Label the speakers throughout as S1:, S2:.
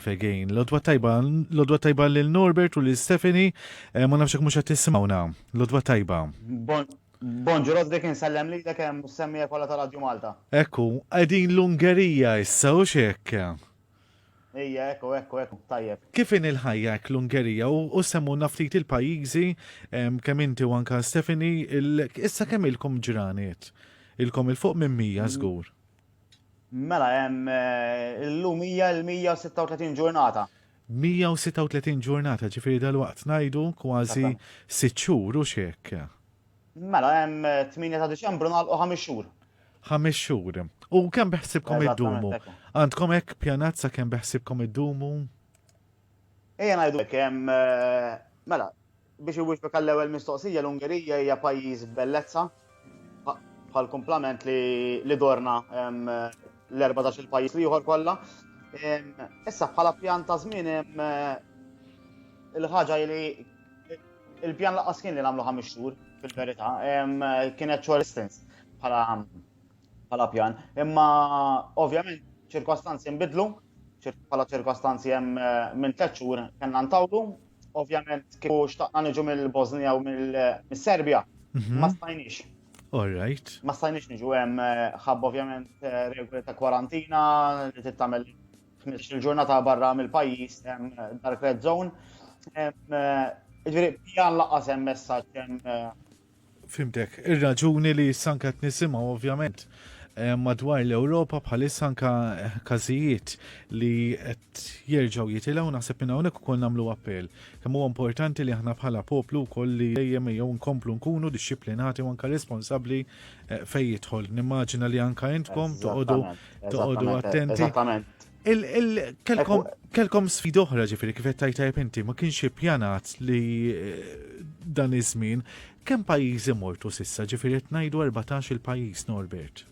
S1: Pregane. Lodwa tajba, lodwa tajba lil Norbert u lil Stephanie, eh, ma nafx mhux qed tisimgħuna. Lodwa tajba. Bon, bon ġurot dik insellem li l hemm semmija kollha ta' Radju Malta. Ekku, qegħdin l-Ungerija issa u xek. Ija, ekku, ekku, ekku, tajjeb. Kif in il-ħajja hekk l-Ungerija u semmu naftit il-pajjiżi kemm inti u anka Stephanie, issa kemm ilkom ġraniet? Ilkom il-fuq minn mija żgur. Mela hemm illum hija l-136 ġurnata. 136 ġurnata, ġifieri dalwaqt ngħidu kważi sitt xhur, hux hekk? Mela hemm 8 ta' Diċembru nagħlqu ħames xhur. Ħames xhur. U kemm beħsiebkom iddumu? Għandkom hekk pjanat sa kemm beħsiebkom iddumu? Ejja ngħidu hekk hemm mela biex iwieġbek għall-ewwel mistoqsija l-Ungerija hija pajjiż bellezza bħal kumplament li li dorna l-14 il-pajjiż li ieħor kollha. Issa bħala pjan ta' żmien il-ħaġa li il-pjan laqas kien li nagħmlu ħames xhur fil-verità kienet short distance bħala bħala pjan. Imma ovvjament ċirkostanzi nbidlu, bħala ċirkostanzi hemm eh, minn tliet xhur kellna ntawlu, ovvjament kieku xtaqna niġu mill-Bosnija u mill-Serbja, mhm. ma stajniex. All right. Ma stajniex niġu hemm eh, ħabb ovvjament eh, regoli ta' kwarantina li tittamel 15 ġurnata barra mill-pajjiż hemm dark red zone. Ġifieri pjan laqas hemm messaġġ hemm Fimtek, ir-raġuni li sanka qed nisimgħu ovvjament eh, madwar l-Ewropa bħalissa anka eh, każijiet li qed jerġgħu jitilgħu naħseb minn hawnhekk ukoll nagħmlu appell. Kemm huwa importanti li aħna bħala poplu wkoll li dejjem jew nkomplu nkunu dixxiplinati u anka responsabbli eh, fejn jidħol. Nimmaġina li anka intkom toqogħdu toqogħdu attenti. Eżattament. Kelkom sfid oħra ġifiri kif qed tajtajb inti ma kienx ippjanat li eh, dan iż-żmien kemm pajjiżi mortu sissa ġifiri qed ngħidu 14 il-pajjiż Norbert.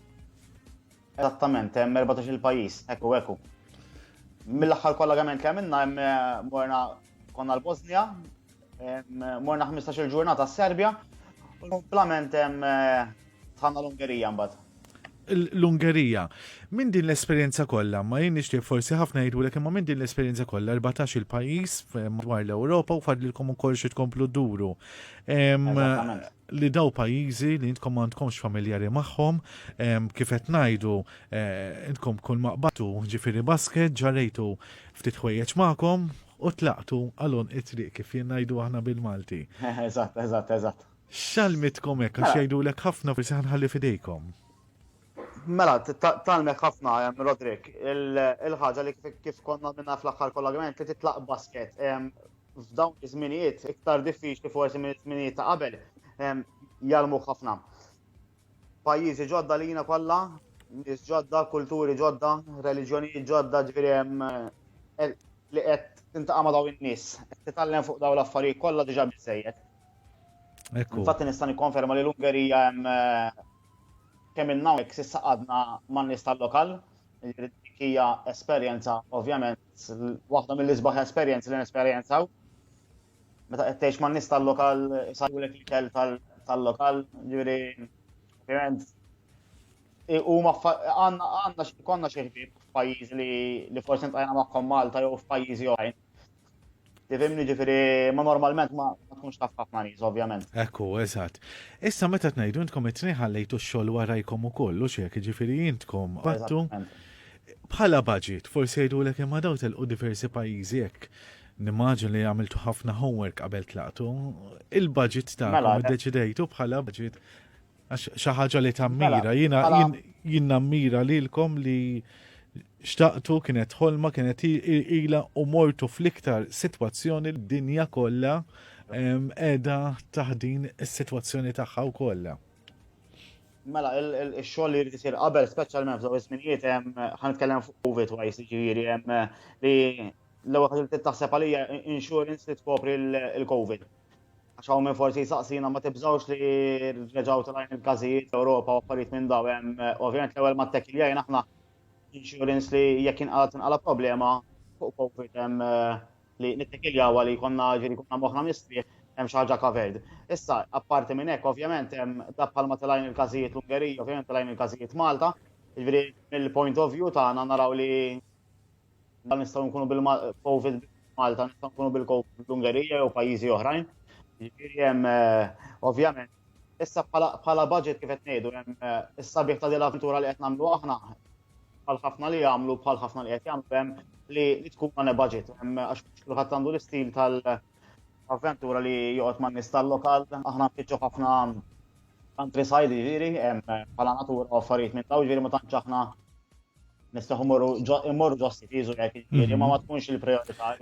S1: Eżattament, hemm 14 il-pajjiż, ekku ekku. Mill-aħħar kollagament li għamilna hemm eh, morna Konna l-Bosnia, morna 15 il-ġurnata s-Serbja, u l-komplement tħanna l-Ungerija mbagħad. L-Ungerija. Minn din l-esperjenza kollha, ma jien nixtieq forsi ħafna jgħidu lek imma minn din l-esperjenza kollha 14 il-pajjiż madwar l-Ewropa u fadlilkom ukoll xi tkomplu duru li daw pajjiżi li intkom għandkomx familjari magħhom, kif qed ngħidu, eh, intkom kull maqbatu ġifieri basket ġarejtu Ftit ħwejjeġ magħkom u tlaqtu għal għonq it-triq kif jien ngħidu aħna bil-Malti. Eżatt, eżatt, eżatt. X'għallmitkom hekk għax jgħidulek ħafna forsi ħa nħalli f'idejkom. Mela, tgħallmek ħafna Roderick, il-ħaġa li kif kont nagħmilha fl-aħħar kollagrament li titlaq basket. F'dawn iż-żminijiet iktar diffiċli forsi mill-żminijiet ta' qabel jgħallmuk ħafna. Pajjiżi ġodda lina kollha, nies ġodda, kulturi ġodda, reliġjonijiet ġodda, ġifieri hemm eh, li qed tintaqa' ma' dawn in-nies, qed titgħallem fuq dawn l-affarijiet kollha diġà biżejjed. Infatti nista' nikkonferma li l-Ungerija hemm eh, kemm inna hawnhekk s'issa qadna man-nies tal-lokal, jiġifieri dik hija esperjenza ovvjament waħda mill-isbaħ esperjenzi li nesperjenzaw. meta qed tgħix man-nies tal-lokal sajwlek l-ikel tal-lokal, ġifieri ovvjament huma għandna konna xi ħbieb f'pajjiżi li forsi ntajna magħhom Malta jew f'pajjiżi oħrajn. Tifimni ġifiri, ma normalment ma tkunx taf ħafna nies, ovvjament. Ekku, eżatt. Issa meta tnejdu intkom it-tnej ħallejtu x-xogħol warajkom ukoll, u xek, ġifiri intkom battu bħala budget, forsi jgħidulek imma daw telqu diversi pajjiżi hekk Nimmaġina li għamiltu ħafna homework qabel tlaqtu. Il-budget ta' mela, eh. deċidejtu bħala budget xi ħaġa li tammira. Mela, jiena mela. jien nammira lilkom li xtaqtu kienet ħolma kienet ila u mortu fl-iktar sitwazzjoni l-dinja kollha qiegħda taħdin is-sitwazzjoni tagħha u kollha. Mela, il-xogħol li jisir qabel, speċjalment f'daw iż-żminijiet hemm ħanitkellem fuq COVID wise jiġifieri hemm li L-ewwel ħaġa li trid taħseb għalija insurance li tkopri l-COVID. Għax hawn minn forsi saqsina ma tibżawx li reġgħu tal il-każijiet l-Ewropa u affarijiet minn daw hemm ovvjament l-ewwel ma tekkiljajn aħna insurance li jekk inqalat inqala problema fuq COVID hemm eh, li nittekiljaw li konna ġiri konna moħna mistri hemm xi ħaġa covered. Issa, apparti minn hekk, ovvjament hemm dak bħalma telajn il-każijiet l-Ungerija, ovvjament telajn il-każijiet Malta, ġifieri mill-point of view tagħna naraw li Dan nistgħu nkunu bil-COVID Malta, nistgħu nkunu bil-COVID l-Ungerija jew pajjiżi oħrajn. Jiġifieri hemm eh, ovvjament issa bħala budget kif qed ngħidu hemm eh, is-sabiħ ta' din l-avventura li qed nagħmlu aħna bħal ħafna li jagħmlu bħal ħafna li qed jagħmlu hemm li tkun għandha budget hemm għax kulħadd għandu l-istil tal- avventura li joqgħod man nies tal-lokal, aħna nfittxu ħafna countryside ġiri, bħala natura u affarijiet minn daw ġiri ma tantx aħna Nistaħu morru ġo stifizu jek il-kiri, ma ma tkunx il-priorità.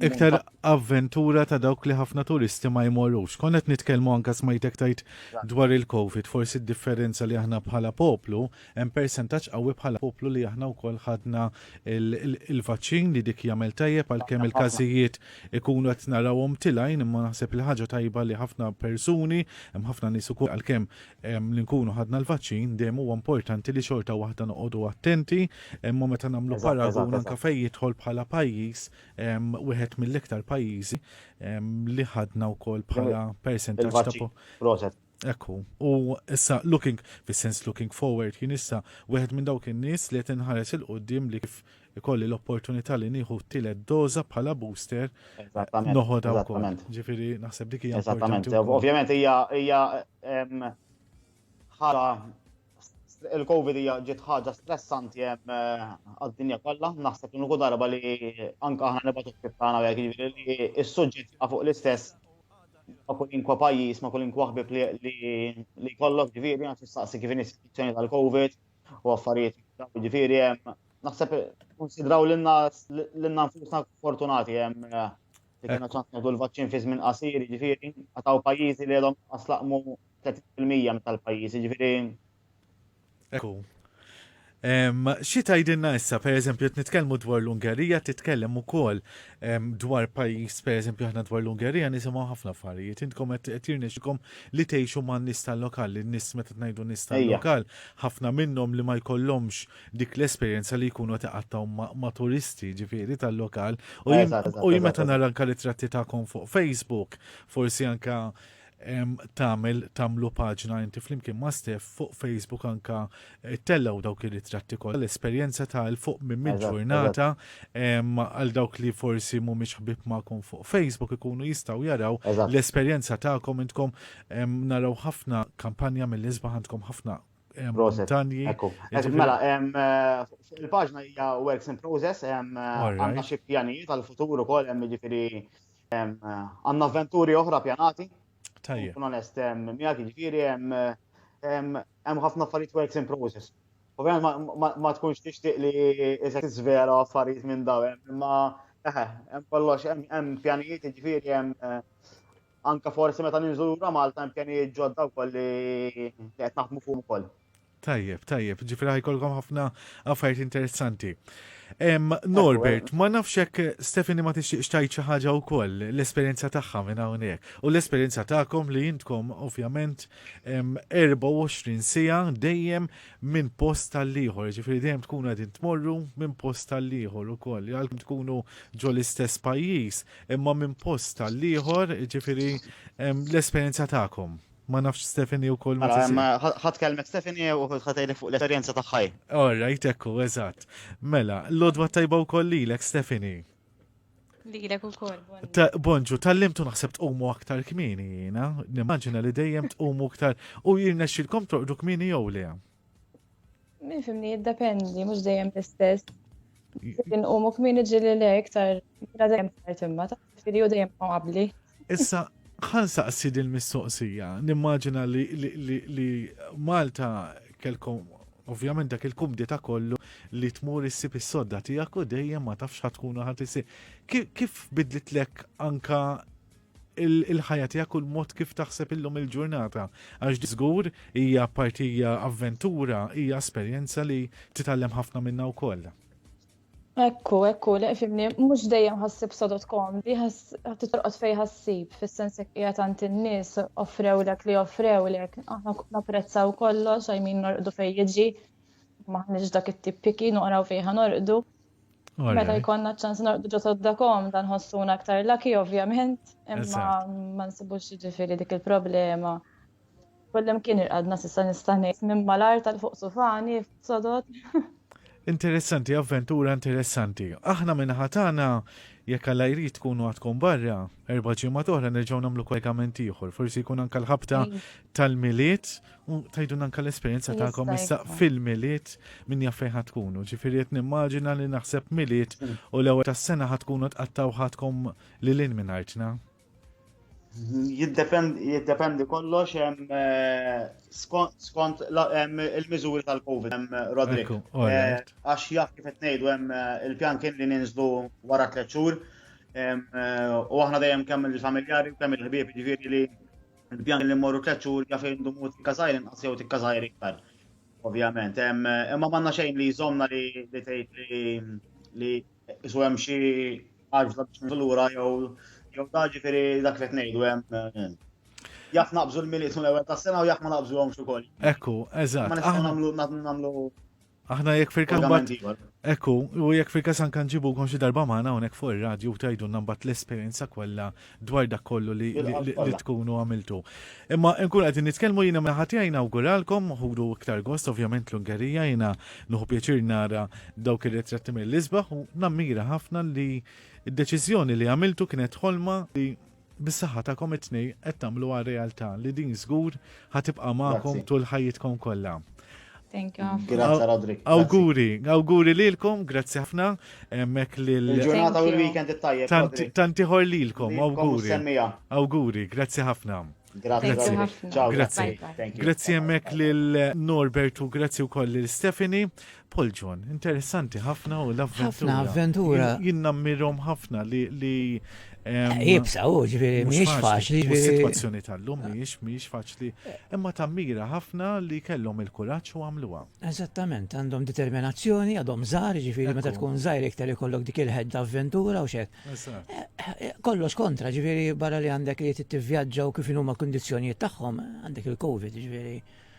S1: Iktar avventura ta' dawk li ħafna turisti ma jmorrux. Konnet nitkelmu anka smajtek tajt dwar il-Covid, forsi d-differenza li aħna bħala poplu, hemm percentaċ qawwi bħala poplu li aħna wkoll ħadna il-vaċċin li dik jagħmel tajjeb għalkemm il-każijiet ikunu qed narawhom tilajn imma naħseb il-ħaġa tajba li ħafna persuni, hemm ħafna nies ukoll għalkemm li nkunu ħadna l-vaċċin dejjem huwa importanti li xorta waħda noqogħdu attenti, imma meta nagħmlu paragun anke fejn jidħol bħala pajjiż wieħed mill-iktar pajjiżi li ħadna wkoll bħala percentaġġ ta' Ekku, u issa looking, fis-sens looking forward, jien issa wieħed minn dawk in-nies li qed inħares il-qudiem li kif ikolli l-opportunità li nieħu t-tielet doża bħala booster noħodha wkoll. Ġifieri naħseb dik hija importanti. Ovvjament hija hija ħala il-Covid hija ġiet ħaġa stressanti hemm eh, għad-dinja kollha, naħseb li nuku darba li anke aħna nibgħatu tagħna jekk jiġifieri li s-suġġett fuq l-istess ma' kulinkwa pajjiż, ma' kulinkwa ħbib li kollok ġifieri għax tistaqsi kif in-istituzzjoni tal-Covid u affarijiet ġifieri hemm naħseb konsidraw lilna lilna nfusna fortunati hemm eh, li kena ċans nagħdu l-vaċċin fi żmien qasir, ġifieri għataw pajjiżi li għadhom aslaqmu 30% tal-pajjiżi, ġifieri. Ekku. Xi tgħidilna issa, pereżempju, qed nitkellmu dwar l-Ungerija, titkellem ukoll dwar pajjiż, per eżempju, aħna dwar l-Ungerija nisimgħu ħafna affarijiet. Intkom qed tirnexxikom li tgħixu man nies tal-lokal, li nies meta tnajdu nies tal-lokal, ħafna minnhom li ma jkollhomx dik l-esperjenza li jkunu tiqattaw ma' turisti ġifieri tal-lokal. U jien meta nara anke ritratti tagħkom fuq Facebook, forsi anke tagħmel tagħmlu paġna inti flimkien ma' Steph fuq Facebook anka eh, tellgħu dawk ir-ritratti kollha l-esperjenza ta' l fuq minn minn ġurnata għal dawk li forsi mhumiex ħbib magħkom fuq Facebook ikunu jistgħu jaraw l-esperjenza tagħkom intkom naraw ħafna kampanja mill-isbaħ għandkom ħafna montanji. Mela, eh, il-paġna hija works in process, eh, għandna xi pjanijiet għal-futur ukoll hemm jiġifieri Għanna avventuri oħra pjanati. Tajja. Kun onest, miegħek jiġifieri hemm ħafna affarijiet works in process. Ovvjament ma tkunx tixtieq li iżek tiżvera affarijiet minn daw, imma eħe, hemm kollox hemm pjanijiet jiġifieri hemm eh, anka forsi meta ninżura Malta hemm pjanijiet ġodda wkoll li qed naħdmu fuq ukoll. Tajjeb, tajjeb, ġifri ħajkolkom ħafna affarijiet interessanti. Norbert, ma nafx hekk Stefani ma tixtieqx tajt xi ħaġa wkoll l-esperjenza tagħha minn hawnhekk u l-esperjenza tagħkom li jintkom ovvjament 24 sija dejjem minn post tal-ieħor, ġifri dejjem tkunu qegħdin tmorru minn post tal-ieħor ukoll, għalkemm tkunu ġo l-istess pajjiż, imma minn post tal-ieħor, ġifri l-esperjenza tagħkom. Ma nafx Stephanie u koll ma Mela, tisir. em, ħa- ħadd kelmet Stephanie u ħatejlek fuq l-esperjenza tagħħaj. All right, ekku, eżatt. Mela, l-odwa tajba u koll lilek, Stephanie. Lilek u koll. Ta- Bonġu, tal-limtu naħseb tqumu aktar kmini jina, nimmaġina li dejjem tqumu aktar u jirna xilkom torqdu kmini jew le. Min fimni jiddependi, mhux dejjem l-istess. Kien u muk min iġi li le iktar mela dejjem tard imma ta' fili u dejjem qabli. Issa ħan saqsi din mistoqsija, nimmaġina li Malta kelkom ovvjament dak il-kumdita kollu li tmur issib is-sodda tiegħek u dejjem ma tafx ħatkunu ħadd isir. Kif bidlitlek anka il-ħajja tiegħek u l-mod kif taħseb illum il-ġurnata. Għax żgur hija partija avventura, hija esperjenza li titgħallem ħafna minna wkoll. Ekku, ekku, li fimni, mux dejjem ħassib sodot komdi, ħatti torqot fej ħassib, fil-sens jek jgħat għant il-nis, offrew lek li offrew lek, aħna naprezzaw kollox, għajmin norqdu fej jġi, maħniġ dak it-tip piki, noqraw fej ħanorqdu, Meta jkollna ċans norqdu ġo soddakom dan ħossuna aktar laki ovvjament, imma ma nsibux ġifieri dik il-problema. Kollem kien irqadna sissa nista' ngħid minn malar tal-fuq sufani sodod. Interessanti, avventura interessanti. Aħna minn ħatana jekk alla jrid tkunu għadkom barra, erba' ġimgħa oħra nerġgħu nagħmlu kollegament ieħor, forsi jkun anke l-ħabta tal-miliet U tajdun anka l-esperienza ta'kom issa fil-miliet minn jaffej ħatkunu. Ġifiri qed nimmaġina li naħseb miliet mm. u l-ewwel tas-sena ħatkunu tqattaw ħatkom li lin minn artna. Jiddependi kollox eh, skont il-miżuri tal-Covid hemm eh, Rodrik. Eh, għax jaf kif qed ngħidu hemm il-pjan kien li ninżlu wara tliet xhur u aħna dejjem kemm il-familjari kemm il-ħbieb jiġifieri li Il-pjan li mmorru tliet xhur jaf fejn idumu tikka żgħir inqas jew tikka żgħir iktar. Ovvjament, imma m'għandna xejn li jżommna li tgħid li li isu hemm xi għarfla biex nagħmlu lura jew jew da ġifieri dak li qed ngħidu hemm jaf naqbżu l-miliet l-ewwel tas-sena u jaf ma naqbżuhomx ukoll. Ekku, eżatt. Ma nistgħu nagħmlu nagħmlu Aħna jekk fil-każ Pagament mbagħad ieħor. Ekku, u jekk fil-każ anke nġibukom xi darba magħna hawnhekk fuq ir-radju u tgħidulna mbagħad l-esperjenza kollha dwar dak kollu li, li, li, li tkunu għamiltu. Imma nkun qegħdin nitkellmu jiena minn ħati għajna awguralkom ħudu iktar gost ovvjament l-Ungerija jiena nuħu pjaċir nara dawk ir-ritratti mill-isbaħ u nammira ħafna li d-deċiżjoni li għamiltu kienet ħolma li Bis-saħħa tagħkom it-tnej qed tagħmluha realtà li din żgur ħa tibqa' magħkom tul ħajjitkom kollha. Thank you. Grazie Rodrik. Auguri, auguri lilkom, grazzi ħafna. Mek lil. Il-ġurnata u l-weekend it-tajjeb. Tanti ħor lilkom, auguri. Auguri, grazzi ħafna. Grazie. Grazie. Grazie. Grazie mek lil Norbertu, grazie u koll lil Stephanie. Paul John, interessanti ħafna u l-avventura. Ħafna avventura. Jien nammirhom ħafna li li Ibsa u ġviri, miex faċli. Situazzjoni tal-lum miex, miex faċli. Imma tammira ħafna li kellhom il-kuraċ u għamluha. Eżattament, għandhom determinazzjoni, għadhom żgħar, ġviri, meta tkun żgħir iktar ikollok dik il-ħed avventura u xek. Eh, eh, kollox kontra, ġviri, barra li għandek li t-tivjaġġa u kif huma kundizzjonijiet tagħhom, għandek il-Covid, ġviri.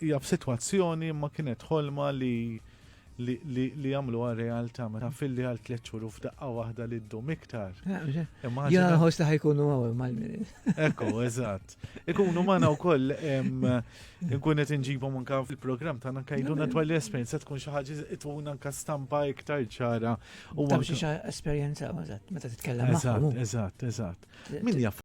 S1: Hija f'sitwazzjoni imma kienet ħolma li li għamluha realtà meta filli għal tliet xhur u f'daqqa waħda li ddum iktar. Ah, Jena nħoss li ħajkunu għaw mal Ekku, eżatt. Ikunu magħna wkoll nkun qed inġibhom anke fil-programm tagħna kajduna dwar l-esperjenza tkun xi ħaġa itun anke stampa iktar ċara. U xi esperjenza eżatt meta titkellem. Eżatt, eżatt, eżatt. Min jaf